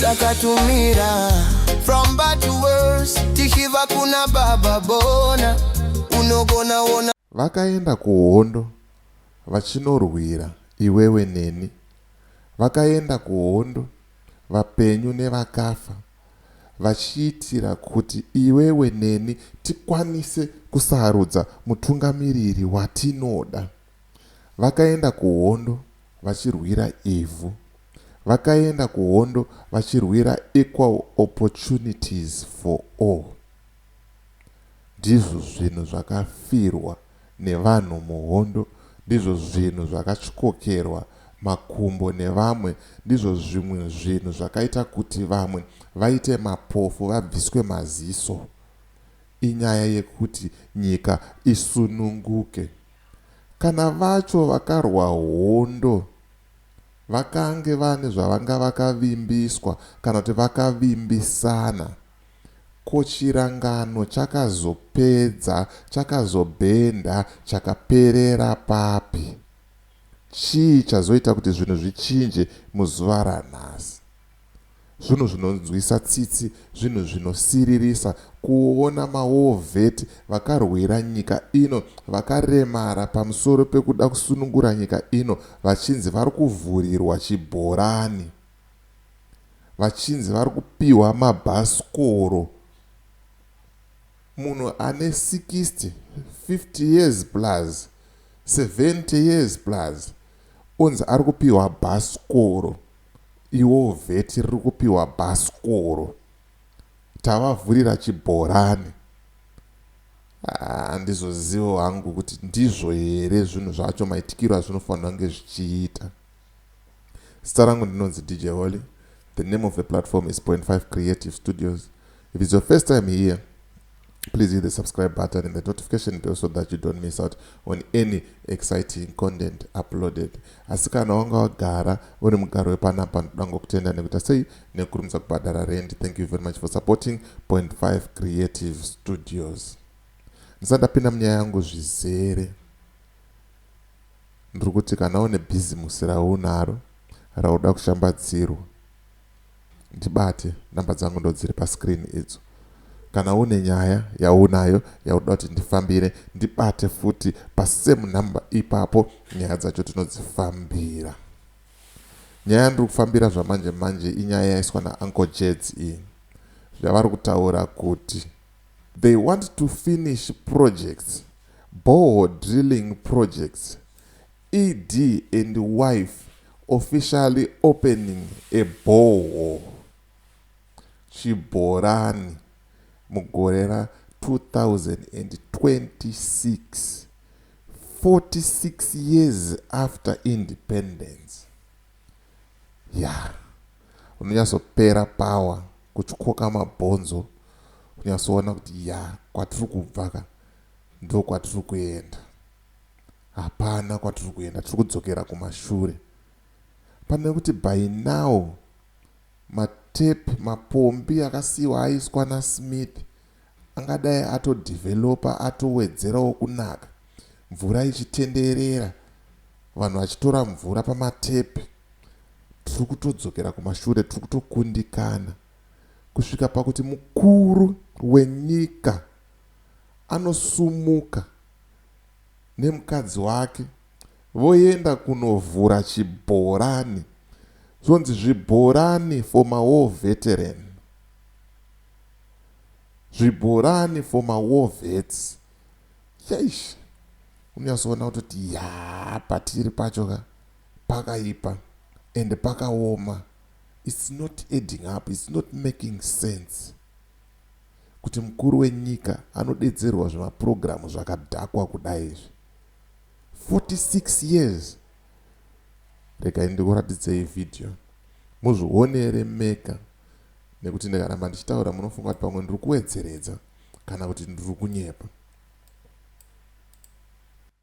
takatumira from bad to worse tichiva kuna baba bona unogona ona vakaenda kuhondo vachinorwira iwewe neni vakaenda kuhondo vapenyu nevakafa vachiitira kuti iwewe neni tikwanise kusarudza mutungamiriri watinoda Vakaenda kuhondo vachirwira ivhu. Vakaenda kuhondo vachirwira equal opportunities for all. Ndizvo zvinhu zvakafirwa nevanhu muhondo, ndizvo zvinhu zvakatyokerwa makumbo nevamwe, ndizvo zvimwe zvinhu zvakaita kuti vamwe vaite mapofu vabviswe maziso. Inyaya yekuti nyika isununguke. Kana vacho vakarwa hondo vakange vane zvavanga vakavimbiswa kana kuti vakavimbisana, ko chirangano chakazopedza, chakazobhenda, chakaperera papi? Chii chazoita kuti zvinhu zvichinje muzuva ranhasi? Zvinhu zvinonzwisa tsitsi, zvinhu zvinosiririsa kuona mawar vet vakarwira nyika ino vakaremara pamusoro pekuda kusunungura nyika ino vachinzi vari kuvhurirwa chibhorani, vachinzi vari kupihwa mabhasikoro. Munhu ane 60, 50 years plus, 70 years plus onzi ari kupihwa bhasikoro. Iwoo vheti riri kupiwa bhasikoro tavavhurira chibhorani handizozivo hangu kuti ndizvo here zvinhu zvacho maitikiro azvinofanira kunge zvichiita zita rangu ndinonzi dj holy the name of the platform is 5 creative studios If it's your first time here, please hit the subscribe button and the notification bell so that you don't miss out on any exciting content uploaded asi kana wanga wagara uri mugaro wepanapa ndoda ngokutenda nekuita sei nekurumidza kubhadhara rent thank you very much for supporting point 5 creative studios ndisati ndapinda munyaya yangu zvizere ndiri kuti kana une bhizimusi raunaro rauda kushambadzirwa Ndibate, number dzangu ndodziri pascreen idzo. Kana une nyaya yaunayo yaunoda kuti ndifambire, ndibate futi pasame number ipapo nyaya dzacho tinodzifambira. Nyaya yandiri kufambira zvamanje manje inyaya yaiswa naUncle Jeds iyi yavari kutaura kuti they want to finish projects, bore drilling projects ED and wife officially opening a borehole, chibhorani, mugore ra 2026, 46 years after independence. Yaa, unonyatsopera power kutyoka mabhonzo kunyatsoona kuti yaa kwatiri kubva ka ndokwatiri kuenda. Hapana kwatiri kuenda tiri kudzokera kumashure. Pane kuti by now matape mapombi akasiiwa aiswa naSmith angadai atodeveloper atowedzerawo kunaka mvura ichitenderera vanhu vachitora mvura pamatape. Tiri kutodzokera kumashure tiri kutokundikana kusvika pakuti mukuru wenyika anosumuka nemukadzi wake voenda kunovhura chibhorani zvonzi zvibhorani for mawar veteran zvibhorani for mawar vets yaish unyasoona kutoti yaa patiri pacho ka pakaipa and pakaoma it's not adding up it's not making sense Kuti mukuru wenyika anodedzerwa zvima program zvakadhakwa kudai izvi. 46 years. Regai ndikuratidzei video muzvionere mega nekuti ndikaramba ndichitaura munofunga kuti pamwe ndiri kuwedzeredza kana kuti ndiri kunyepa.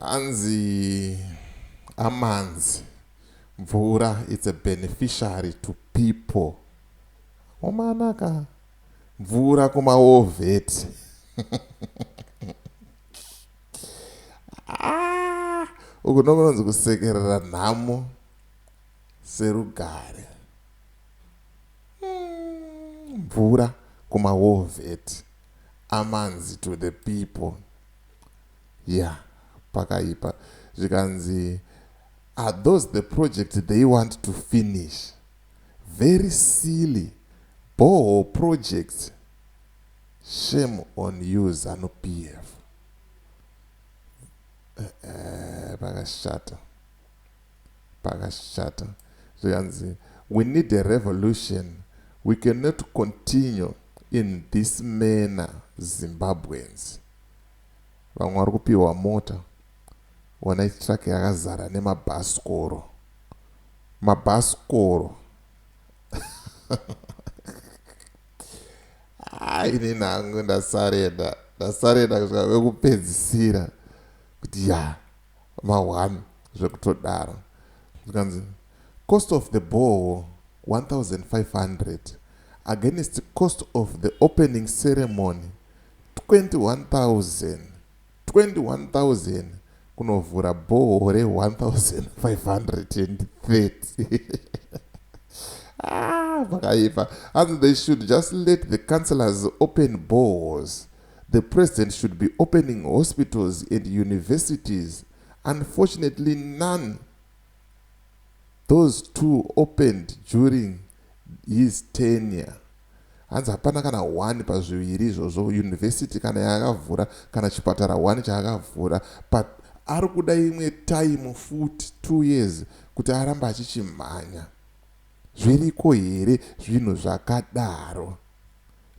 hanzi amanzi mvura it's a beneficiary to people omanaka mvura kumaovheti ah, uku nokunonzi kusekerera nhamo serugare umm mvura kuma war vet amanzi to the people yeah pakaipa zvikanzi are those the project they want to finish very silly bhoo project shame on you zanu PF eh, eh, pakashata pakashata zvikanzi we need a revolution we cannot continue in this manner Zimbabweans. Vamwe vari kupihwa mota wonai truck yakazara nemabhasikoro mabhasikoro ah, ini nangu ndasareda ndasareda kusvika vekupedzisira kuti ya yeah. Va one zvekutodaro. Zvikanzi cost of the borehole 1500 against cost of the opening ceremony 21000 21000 kunovhura borehole re 1530 Ah, vakaipa. Hanzi they should just let the councillors open boreholes. The president should be opening hospitals and universities. Unfortunately, none those two opened during his tenure. hanzi hapana kana one pazviviri izvozvo university kana yaakavhura kana chipatara one chaakavhura but ari kuda imwe time futi two years kuti arambe achichimhanya zviriko here zvinhu zvakadaro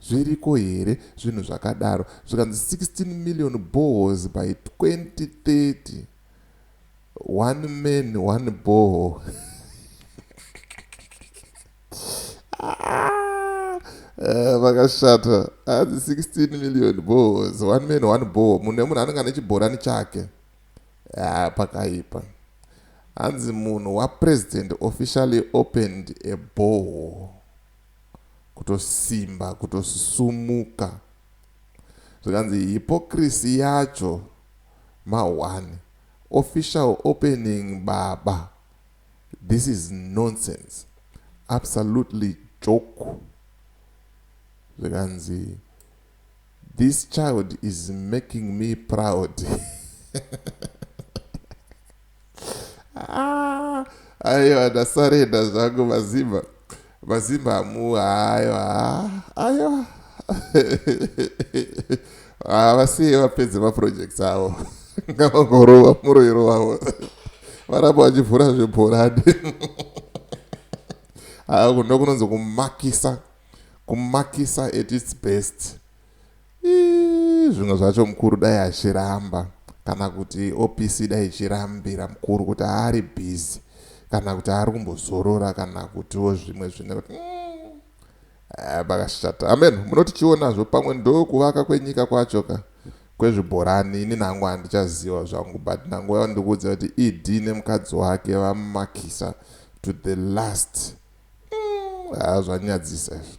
Zviriko here zvinhu zvakadaro zvikanzi 16 million boreholes by 2030 one man one borehole ah, eh, vakashata hanzi 16 million boreholes one man one borehole munhu nemunhu anenge ane chibhorani chake ah, pakaipa hanzi munhu wapresident officially opened a borehole kutosimba kutosisumuka zvikanzi hypocrisy yacho ma one official opening baba this is nonsense absolutely joke zvikanzi this child is making me proud Ah, aiwa ndasarenda zvangu mazimba mazimba hamu aiwa aiwa havasiye ah, vapedze maprojects avo ngavangorova muroiro wavo varamba vachivhura zvebhorani ah, ndokunonzi kumakisa kumakisa at its best Iih zvimwe zvacho mukuru dai achiramba kana kuti OPC dai ichirambira mukuru kuti haari busy kana kuti haari kumbozorora kana kutiwo zvimwe zvine kuti mm, eh, pakashata amen munoti chionazvo pamwe ndo kuvaka kwenyika kwacho ka kwezvibhorani ini nangu handichaziva zvangu but nangu yava ndikuudza kuti ed nemukadzi wake vamakisa to the last mm, haa zvanyadzisa izvi